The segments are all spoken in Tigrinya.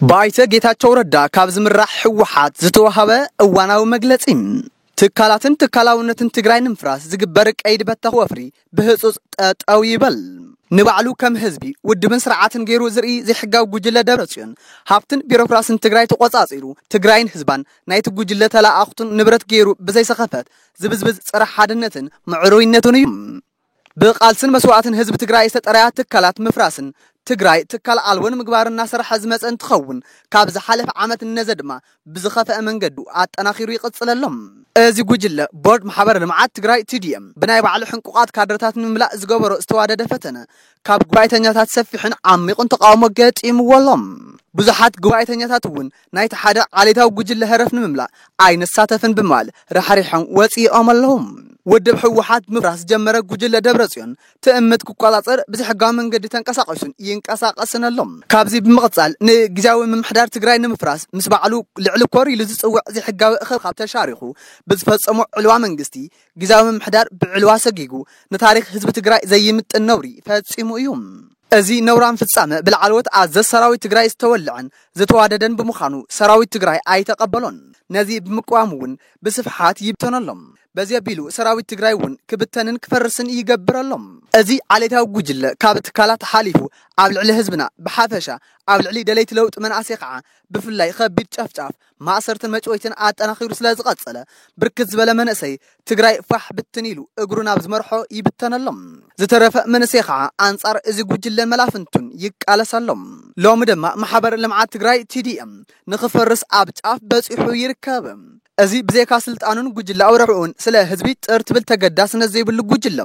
ብኣይተ ጌታቸው ረዳ ካብ ዝምራሕ ህወሓት ዝተዋሃበ እዋናዊ መግለፂ ትካላትን ትካላውነትን ትግራይ ንምፍራስ ዝግበር ቀይዲ በተኽ ወፍሪ ብህጹጽ ጠጠው ይበል። ንባዕሉ ከም ህዝቢ፣ ውድብን ስርዓትን ገይሩ ዝርኢ ዘይሕጋዊ ጉጅለ ደብረጽዮን፣ ሃብትን ቢሮክራስን ትግራይ ተቖጻጺሩ፣ ትግራይን ህዝባን ናይቲ ጉጅለ ተለኣኣኽቱን ንብረት ገይሩ ብዘይሰኸፈት ዝብዝብዝ ጸረ ሓድነትን ምዕሩይነትን እዩ። ብቓልስን መስዋእትን ህዝቢ ትግራይ ዝተጠረያ ትካላት ምፍራስን ትግራይ ትካል ኣልቦ ንምግባርን እናሰርሐ ዝመጸ እንትኸውን፣ ካብ ዝሓለፈ ዓመት ንነዘ ድማ ብዝኸፈኣ መንገዱ ኣጠናኺሩ ይቕፅል ኣሎ። እዚ ጉጅለ ቦርድ ማሕበር ልምዓት ትግራይ፣ TDM፣ ብናይ ባዕሉ ሕንቁቓት ካድረታት ንምምላእ ዝገበሮ ዝተዋደደ ፈተነ ካብ ጉባኤተኛታት ሰፊሕን ዓሚቑን ተቓውሞ ገጢምዎ ኣሎ። ብዙሓት ጉባኤተኛታት እውን ናይቲ ሓደ ዓሌታዊ ጉጅለ ህረፍ ንምምላእ ኣይንሳተፍን ብምባል ራሕሪሖም ወፂኦም ኣለዉ። ውድብ ህወሓት ምፍራስ ዝጀመረ ጉጅለ ደብረፅዮን ትእምት ክቆፃፀር ብዘይሕጋዊ መንገዲ ተንቀሳቂሱን ይንቀሳቀስን ኣሎ። ካብዚ ብምቅፃል ንግዝያዊ ምምሕዳር ትግራይ ንምፍራስ ምስ ባዕሉ ልዕሊ ኮር ኢሉ ዝፅውዕ ዘይሕጋዊ እኽብካብ ተሻሪኹ ብዝፈፀሞ ዕልዋ መንግስቲ ግዝያዊ ምምሕዳር ብዕልዋ ሰጊጉ ንታሪኽ ህዝቢ ትግራይ ዘይምጥን ነውሪ ፈፂሙ እዩ። እዚ ነውራም ፍፃመ ብላዕለዎት ኣዘዝ ሰራዊት ትግራይ ዝተወለዐን ዝተዋደደን ብምዃኑ ሰራዊት ትግራይ ኣይተቀበሎን። ነዚ ብምቅዋም እውን ብስፍሓት ይብተኖ ኣሎ። በዚ ኣቢሉ ሰራዊት ትግራይ እውን ክብተንን ክፈርስን ይገብር ኣሎ። እዚ ዓሌታዊ ጉጅለ ካብ ትካላት ሓሊፉ ኣብ ልዕሊ ህዝብና ብሓፈሻ ኣብ ልዕሊ ደለይቲ ለውጢ መናእሰይ ከዓ ብፍላይ ኸቢድ ጨፍጫፍ፣ ማእሰርትን መጭወይትን ኣጠናኺሩ ስለዝቐፀለ ብርክት ዝበለ መንእሰይ ትግራይ ፋሕ ብትን ኢሉ እግሩ ናብ ዝመርሖ ይብተን ኣሎ። ዝተረፈ መንእሰይ ከዓ ኣንፃር እዚ ጉጅለን መላፍንቱን ይቃለስ ኣሎ። ሎሚ ድማ ማሕበር ልምዓት ትግራይ፣ TDM፣ ንኽፈርስ ኣብ ጫፍ በፂሑ ይርከብ። እዚ ብዘይካ ስልጣኑን ጉጅለኣዊ ረብሕኡን ስለ ህዝቢ ጥር ትብል ተገዳስነት ዘይብሉ ጉጅለ፣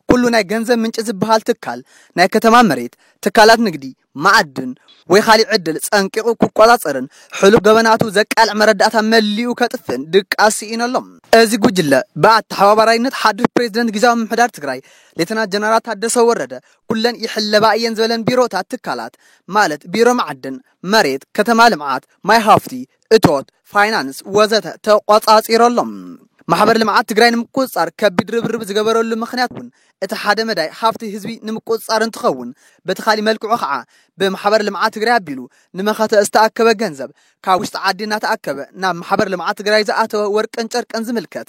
ኩሉ ናይ ገንዘብ ምንጪ ዝበሃል ትካል፣ ናይ ከተማ መሬት፣ ትካላት ንግዲ፣ መዓድን ወይ ካሊእ ዕድል ጸንቂቑ ክቆጻጸርን ሕሉፍ ገበናቱ ዘቃልዕ መረዳእታ መሊኡ ከጥፍእን ድቃስ ስኢኑ ኣሎ። እዚ ጉጅለ ብኣተሓባባራይነት ሓዱሽ ፕሬዚደንት ጊዚያዊ ምምሕዳር ትግራይ ሌተና ጀነራል ታደሰ ወረደ ኩለን ይሕለባ እየን ዝበለን ቢሮታት ትካላት ማለት ቢሮ መዓድን፣ መሬት፣ ከተማ ልምዓት፣ ማይ ሃፍቲ፣ እቶት፣ ፋይናንስ ወዘተ ተቖፃፂሩ ኣሎ። ማሕበር ልምዓት ትግራይ ንምቁፅፃር ከቢድ ርብርብ ዝገበረሉ ምኽንያት እውን እቲ ሓደ መዳይ ሃፍቲ ህዝቢ ንምቁፅፃር እንትኸውን በቲ ካሊእ መልክዑ ከዓ ብማሕበር ልምዓት ትግራይ ኣቢሉ ንመኸተ ዝተኣከበ ገንዘብ ካብ ውሽጢ ዓዲ እናተኣከበ ናብ ማሕበር ልምዓት ትግራይ ዝኣተወ ወርቅን ጨርቅን ዝምልከት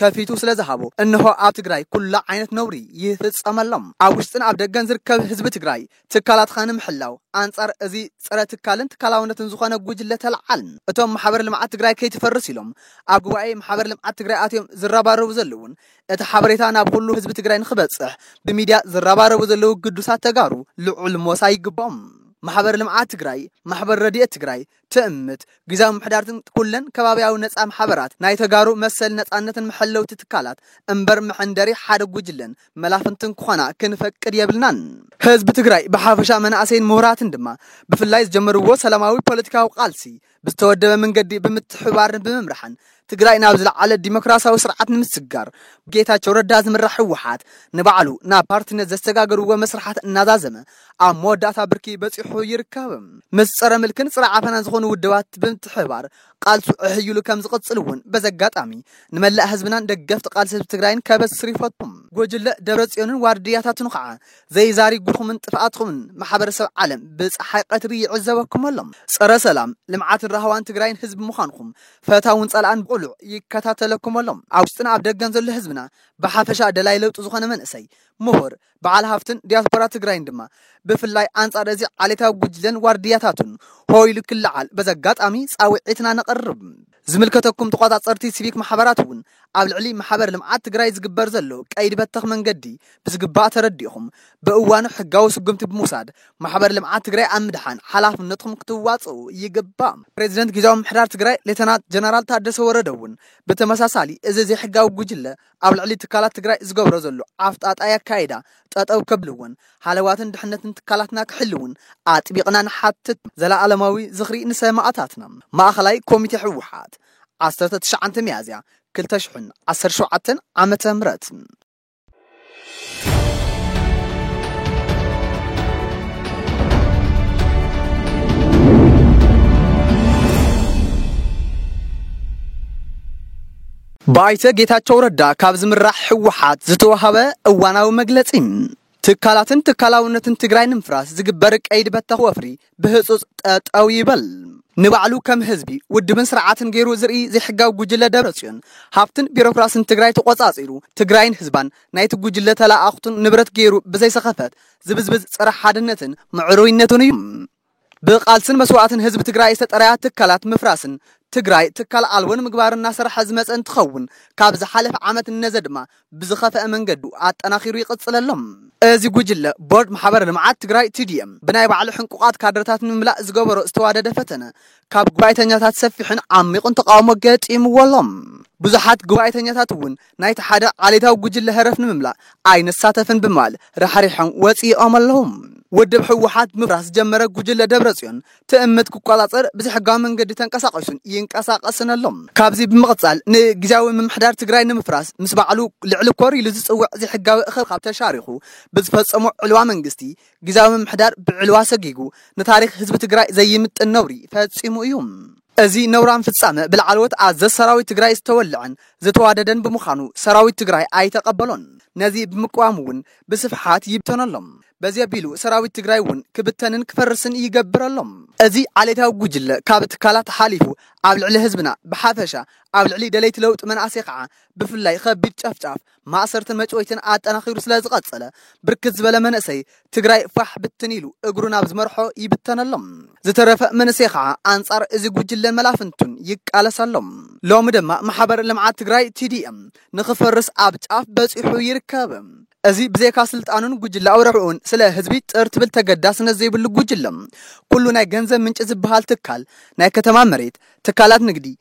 ከፊቱ ስለ ዝሃቦ እንሆ ኣብ ትግራይ ኩሉ ዓይነት ነውሪ ይፍፀመሎም። ኣብ ውሽጥን ኣብ ደገን ዝርከብ ህዝቢ ትግራይ ትካላትኻ ንምሕላው ኣንፃር እዚ ፀረ ትካልን ትካላውነትን ዝኾነ ጉጅለ ተለዓል። እቶም ማሕበር ልምዓት ትግራይ ከይትፈርስ ኢሎም ኣብ ጉባኤ ማሕበር ልምዓት ትግራይ ኣትዮም ዝረባረቡ ዘለውን እቲ ሓበሬታ ናብ ኹሉ ህዝቢ ትግራይ ንኽበፅሕ ብሚድያ ዝረባረቡ ዘለው ግዱሳት ተጋሩ ልዑል ሞሳ ይግበኦም። ማሕበር ልምዓት ትግራይ፣ ማሕበር ረድኤት ትግራይ፣ ትእምት፣ ግዝያዊ ምምሕዳርትን ኩለን ከባብያዊ ነጻ ማሕበራት ናይ ተጋሩ መሰልን ነጻነትን መሐለውቲ ትካላት እምበር መሐንደሪ ሓደ ጉጅለን መላፍንትን ክኾና ክንፈቅድ የብልናን። ህዝቢ ትግራይ ብሓፈሻ መናእሰይን ምሁራትን ድማ ብፍላይ ዝጀመርዎ ሰላማዊ ፖለቲካዊ ቃልሲ ብዝተወደበ ምንገዲ ብምትሕብባርን ብምምራሕን ትግራይ ናብ ዝለዓለ ዲሞክራሲያዊ ስርዓት ንምስግጋር ብጌታቸው ረዳ ዝምራሕ ህወሓት ንባዕሉ ናብ ፓርቲነት ዘሰጋገርዎ መስርሓት እናዛዘመ ኣብ መወዳእታ ብርኪ በፂሑ ይርከብ። ምስ ፀረ ምልክን ፀረ ዓፈናን ዝኾኑ ውድባት ብምትሕብባር ቃልሱ ዕሕይሉ ከም ዝቕፅል እውን በዚ ኣጋጣሚ ንመላእ ህዝብናን ደገፍቲ ቃልሲ ህዝቢ ትግራይን ከበስር ይፈቱ። ጉጅለ ደብረፅዮንን ዋርድያታቱን ኻዓ ዘይዛሪጉኹምን ጥፍኣትኹምን ማሕበረሰብ ዓለም ብፀሓይ ቐትሪ ይዕዘበኩም ኣሎ። ፀረ ሰላም፣ ልምዓትን ራህዋን ትግራይን ህዝቢ ምዃንኹም ፈታውን ጸላእን ብቕሉዕ ይከታተለኩም ኣሎ። ኣብ ውሽጥን ኣብ ደገን ዘሎ ህዝብና ብሓፈሻ ደላይ ለውጢ ዝኾነ መንእሰይ፣ ምሁር፣ በዓል ሃፍትን ዲያስፖራ ትግራይን ድማ ብፍላይ ኣንጻር እዚ ዓሌታዊ ጉጅለን ዋርድያታቱን ሆ ኢሉ ክለዓል በዚ ኣጋጣሚ ጻውዒትና ነቕርብ። ዝምልከተኩም ተቖጻጸርቲ ሲቪክ ማሕበራት እውን ኣብ ልዕሊ ማሕበር ልምዓት ትግራይ ዝግበር ዘሎ ቀይዲ በተኽ መንገዲ ብዝግባእ ተረዲእኹም ብእዋኑ ሕጋዊ ስጉምቲ ብምውሳድ ማሕበር ልምዓት ትግራይ ኣብ ምድሓን ሓላፍነትኹም ክትዋፅኡ ይግባእ። ፕሬዚደንት ጊዚያዊ ምምሕዳር ትግራይ ሌተናት ጀነራል ታደሰ ወረደ እውን ብተመሳሳሊ እዚ ዘይሕጋዊ ጉጅለ ኣብ ልዕሊ ትካላት ትግራይ ዝገብሮ ዘሎ ዓፍጣጣይ ኣካይዳ ጠጠው ከብልዎን ሃለዋትን ድሕነትን ትካላትና ክሕልውን ኣጥቢቕና ንሓትት። ዘለኣለማዊ ዝኽሪ ንሰማእታትና! ማእኸላይ ኮሚቴ ህወሓት! ዓሰርተ ትሽዓተ ሚያዝያ ክልተ ሽሕን ዓሰርተ ሸውዓተን ዓመተ ምህረት ብኣይተ ጌታቸው ረዳ ካብ ዝምራሕ ህወሓት ዝተውሃበ እዋናዊ መግለፂ ትካላትን ትካላውነትን ትግራይ ንምፍራስ ዝግበር ቀይዲ በተኽ ወፍሪ ብህፁፅ ጠጠው ይበል። ንባዕሉ ከም ህዝቢ፣ ውድብን ስርዓትን ገይሩ ዝርኢ ዘይሕጋዊ ጉጅለ ደብረፅዮን ሃፍትን ቢሮክራስን ትግራይ ተቖፃፂሩ ትግራይን ህዝባን ናይቲ ጉጅለ ተለኣኣኽቱን ንብረት ገይሩ ብዘይሰኸፈት ዝብዝብዝ ፀረ ሓድነትን ምዕሩይነትን እዩ። ብቓልስን መስዋእትን ህዝቢ ትግራይ ዝተጠረያ ትካላት ምፍራስን ትግራይ ትካል ኣልቦ ንምግባር እናሰርሐ ዝመፀ እንትኸውን ካብ ዝሓለፈ ዓመት ንነዘ ድማ ብዝኸፈኣ መንገዱ ኣጠናኺሩ ይቕፅል ኣሎ። እዚ ጉጅለ ቦርድ ማሕበረ ልምዓት ትግራይ፣ TDM፣ ብናይ ባዕሉ ሕንቁቓት ካድረታት ንምምላእ ዝገበሮ ዝተዋደደ ፈተነ ካብ ጉባኤተኛታት ሰፊሕን ዓሚቑን ተቓውሞ ገጢምዎ ኣሎ። ብዙሓት ጉባኤተኛታት እውን ናይቲ ሓደ ዓሌታዊ ጉጅለ ህረፍ ንምምላእ ኣይንሳተፍን ብምባል ራሕሪሖም ወጺኦም ኣለዉ። ውድብ ህወሓት ምፍራስ ዝጀመረ ጉጅለ ደብረጽዮን ትእምት ክቆጻጸር ብዘይሕጋዊ መንገዲ ተንቀሳቒሱን ይንቀሳቐስን ኣሎ። ካብዚ ብምቕጻል ንግዝያዊ ምምሕዳር ትግራይ ንምፍራስ ምስ ባዕሉ ልዕሊ ኮር ኢሉ ዝጽውዕ ዘይሕጋዊ እኽብካብ ተሻሪኹ ብዝፈጸሞ ዕልዋ መንግስቲ ግዝያዊ ምምሕዳር ብዕልዋ ሰጊጉ ንታሪኽ ህዝቢ ትግራይ ዘይምጥን ነውሪ ፈጺሙ እዩ። እዚ ነውራም ፍፃመ ብላዕለዎት ኣዘዝ ሰራዊት ትግራይ ዝተወለዐን ዝተዋደደን ብምዃኑ ሰራዊት ትግራይ ኣይተቐበሎን። ነዚ ብምቅዋም እውን ብስፍሓት ይብተኖ ኣሎ። በዚ ኣቢሉ ሰራዊት ትግራይ እውን ክብተንን ክፈርስን ይገብር ኣሎ። እዚ ዓሌታዊ ጉጅለ ካብ ትካላት ሓሊፉ ኣብ ልዕሊ ህዝብና ብሓፈሻ ኣብ ልዕሊ ደለይቲ ለውጢ መናእሰይ ከዓ ብፍላይ ኸቢድ ጨፍጫፍ ማእሰርትን መጭወይትን ኣጠናኺሩ ስለ ዝቐፀለ ብርክት ዝበለ መንእሰይ ትግራይ ፋሕ ብትን ኢሉ እግሩ ናብ ዝመርሖ ይብተን ኣሎ። ዝተረፈ መንእሰይ ከዓ ኣንፃር እዚ ጉጅለን መላፍንቱን ይቃለስ ኣሎ። ሎሚ ድማ ማሕበር ልምዓት ትግራይ፣ TDM፣ ንኽፈርስ ኣብ ጫፍ በፂሑ ይርከብ። እዚ ብዘይካ ስልጣኑን ጉጅላዊ ረብሕኡን ስለ ህዝቢ ጥር ትብል ተገዳስነት ዘይብሉ ጉጅለ፣ ኩሉ ናይ ገንዘብ ምንጪ ዝበሃል ትካል፣ ናይ ከተማ መሬት፣ ትካላት ንግዲ፣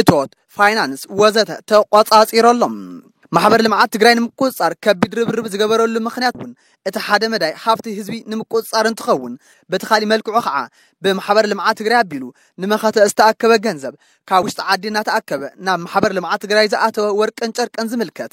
እቶት፣ ፋይናንስ ወዘተ ተቖፃፂሩ ኣሎ። ማሕበር ልምዓት ትግራይ ንምቁፅፃር ከቢድ ርብርብ ዝገበረሉ ምኽንያት እውን እቲ ሓደ መዳይ ሃፍቲ ህዝቢ ንምቁፅፃር እንትኸውን በቲ ካሊእ መልክዑ ከዓ ብማሕበር ልምዓት ትግራይ ኣቢሉ ንመኸተ ዝተኣከበ ገንዘብ ካብ ውሽጢ ዓዲ እናተኣከበ ናብ ማሕበር ልምዓት ትግራይ ዝኣተወ ወርቅን ጨርቅን ዝምልከት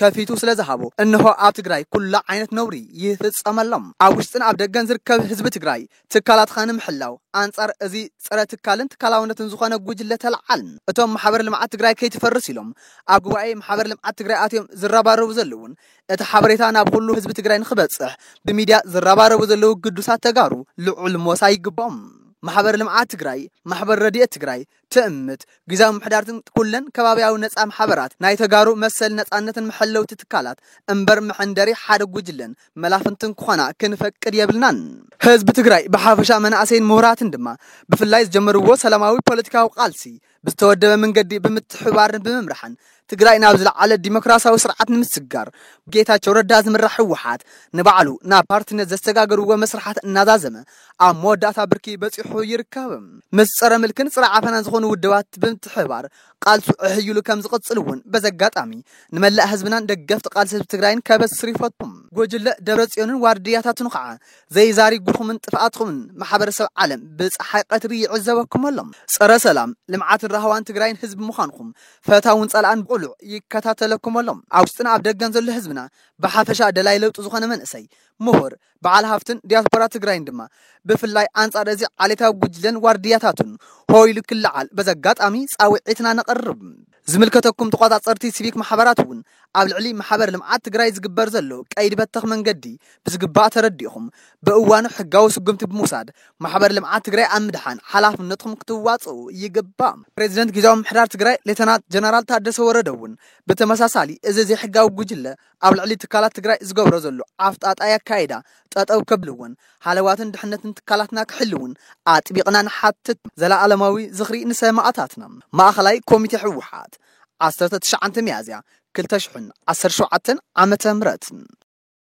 ከፊቱ ስለ ዝሃቦ እንሆ ኣብ ትግራይ ኩሉ ዓይነት ነውሪ ይፍፀመሎም። ኣብ ውሽጥን ኣብ ደገን ዝርከብ ህዝቢ ትግራይ ትካላትኻ ንምሕላው ኣንፃር እዚ ፀረ ትካልን ትካላውነትን ዝኾነ ጉጅለ ተለዓል። እቶም ማሕበር ልምዓት ትግራይ ከይትፈርስ ኢሎም ኣብ ጉባኤ ማሕበር ልምዓት ትግራይ ኣትዮም ዝረባረቡ ዘለውን እቲ ሓበሬታ ናብ ኹሉ ህዝቢ ትግራይ ንኽበፅሕ ብሚድያ ዝረባረቡ ዘለው ግዱሳት ተጋሩ ልዑል ሞሳ ይግበኦም። ማሕበር ልምዓት ትግራይ፣ ማሕበር ረድኤት ትግራይ፣ ትእምት፣ ግዝያዊ ምምሕዳርትን ኩለን ከባብያዊ ነጻ ማሕበራት ናይ ተጋሩ መሰልን ነጻነትን መሐለውቲ ትካላት እምበር መሐንደሪ ሓደ ጉጅለን መላፍንትን ክኾና ክንፈቅድ የብልናን። ህዝቢ ትግራይ ብሓፈሻ መናእሰይን ምሁራትን ድማ ብፍላይ ዝጀመርዎ ሰላማዊ ፖለቲካዊ ቃልሲ ብዝተወደበ ምንገዲ ብምትሕብባርን ብምምራሕን ትግራይ ናብ ዝለዓለ ዲሞክራሲያዊ ስርዓት ንምስግጋር ብጌታቸው ረዳ ዝምራሕ ህወሓት ንባዕሉ ናብ ፓርቲነት ዘሰጋገርዎ መስርሓት እናዛዘመ ኣብ መወዳእታ ብርኪ በፂሑ ይርከብ። ምስ ፀረ ምልክን ፀረ ዓፈናን ዝኾኑ ውድባት ብምትሕብባር ቃልሱ ዕህይሉ ከም ዝቕፅል እውን በዚ ኣጋጣሚ ንመላእ ህዝብናን ደገፍቲ ቃልሲ ህዝቢ ትግራይን ከበስር ይፈቱ። ጉጅለ ደብረፅዮንን ዋርድያታቱን ኻዓ ዘይዛሪጉኹምን ጥፍኣትኹምን ማሕበረሰብ ዓለም ብፀሓይ ቐትሪ ይዕዘበኩም ኣሎ። ፀረ ሰላም፣ ልምዓትን ራህዋን ትግራይን ህዝቢ ምዃንኹም ፈታውን ጸላእን ብቕሉዕ ይከታተለኩም ኣሎ። ኣብ ውሽጥን ኣብ ደገን ዘሎ ህዝብና ብሓፈሻ ደላይ ለውጢ ዝኾነ መንእሰይ፣ ምሁር፣ በዓል ሃፍትን ዲያስፖራ ትግራይን ድማ ብፍላይ ኣንጻር እዚ ዓሌታዊ ጉጅለን ዋርድያታቱን ሆ ኢሉ ክለዓል በዚ ኣጋጣሚ ጻውዒትና ነቕርብ። ዝምልከተኩም ተቖጻጸርቲ ሲቪክ ማሕበራት እውን ኣብ ልዕሊ ማሕበር ልምዓት ትግራይ ዝግበር ዘሎ ቀይዲ በተኽ መንገዲ ብዝግባእ ተረዲእኹም ብእዋኑ ሕጋዊ ስጉምቲ ብምውሳድ ማሕበር ልምዓት ትግራይ ኣብ ምድሓን ሓላፍነትኹም ክትዋፅኡ ይግባእ። ፕሬዚደንት ጊዚያዊ ምምሕዳር ትግራይ ሌተናት ጀነራል ታደሰ ወረደ እውን ብተመሳሳሊ እዚ ዘይሕጋዊ ጉጅለ ኣብ ልዕሊ ትካላት ትግራይ ዝገብሮ ዘሎ ዓፍጣጣይ ኣካይዳ ጠጠው ከብልዎን ሃለዋትን ድሕነትን ትካላትና ክሕልውን ኣጥቢቕና ንሓትት። ዘለኣለማዊ ዝኽሪ ንሰማእታትና! ማእኸላይ ኮሚቴ ህወሓት! ዓሰርተ ትሽዓተ ሚያዝያ ክልተ ሽሕን ዓሰርተ ሸውዓተን ዓመተ ምህረት፣